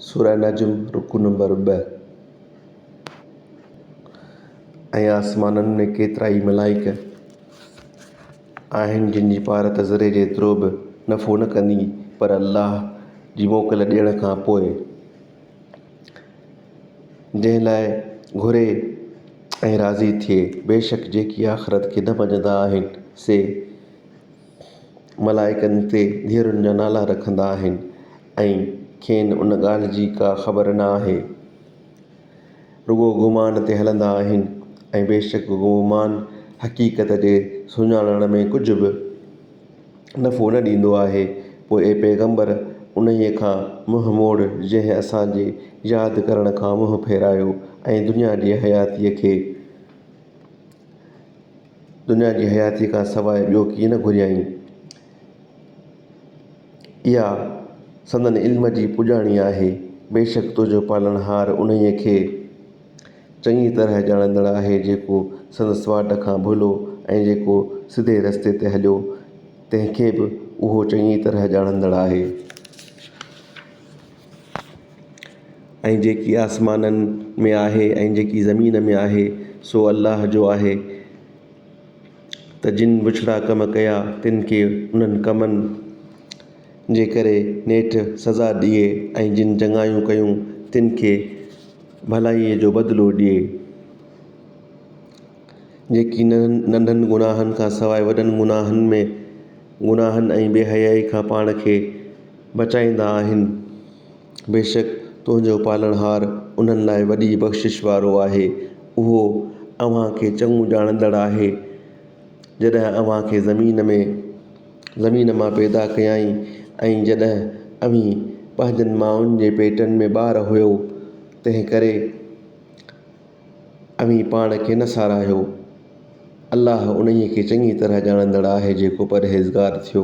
سورة نجم، رڪوع نمبر ٻه، ۽ آسمانن ۾ ڪيترائي ملائڪ آهن جن جي پارت ذري جيترو به نفعو نه ڪندي پر الله جي موڪل ڏيڻ کان پوء جنهن لاء گهري ۽ راضي ٿئي. بيشڪ جيڪي آخرت کي نه مڃيندا آهن سي ملائڪن تي ڌيئرن جا نالا رکندا آهن ۽ کين ان ڳالهه جي ڪا خبر نه آهي. رڳو گمان تي هلندا آهن ۽ بيشڪ گمان حقيقت جي سڃاڻڻ ۾ ڪجهه به نفعو نه ڏيندو آهي. پوء اي پيغمبر! انهيء کان منهن موڙ جنهن اسان جي ياد ڪرڻ کان منهن ڦيرايو ۽ دنيا جي حياتيء کي دنيا جي حياتيء کان سواء ٻيو ڪيئن نه گهريائين. اها سندن علم جي پڄاڻي آهي. بيشڪ تنهنجو پالڻهار انهيء کي چڱيء طرح ڄاڻندڙ آهي جيڪو سندس واٽ کان ڀلو ۽ جيڪو سڌي رستي تي هليو، تنهن کي به اهو چڱيء طرح ڄاڻندڙ آهي. ۽ جيڪي آسمانن ۾ آهي ۽ جيڪي زمين ۾ آهي سو الله جو آهي ته جن بڇڙا ڪم ڪيا تن کي انهن ڪمن جي ڪري نيٺ سزا ڏئي ۽ جن چڱايون ڪيون تن کي ڀلائيء جو بدلو ڏئي جيڪي ننڍن گناهن کان سواء وڏن گناهن ۾ گناهن ۽ بي حيائي کان پاڻ کي بچائيندا آهن. بيشڪ تنهنجو پالڻهار انهن لاء وڏي بخشش وارو آهي. اهو اوهان کي چڱو ڄاڻندڙ آهي. جڏهن اوهان کي زمين ۾ زمين مان پيدا ڪيائين ۽ جڏهن اوهين پنهنجن مائن جي پيٽن ۾ ٻار هئو، تنهنڪري، اوهين پاڻ کي نه ساراهيو. الله انهيء کي چڱيء طرح ڄاڻندڙ آهي جيڪو پرهيزگار ٿيو.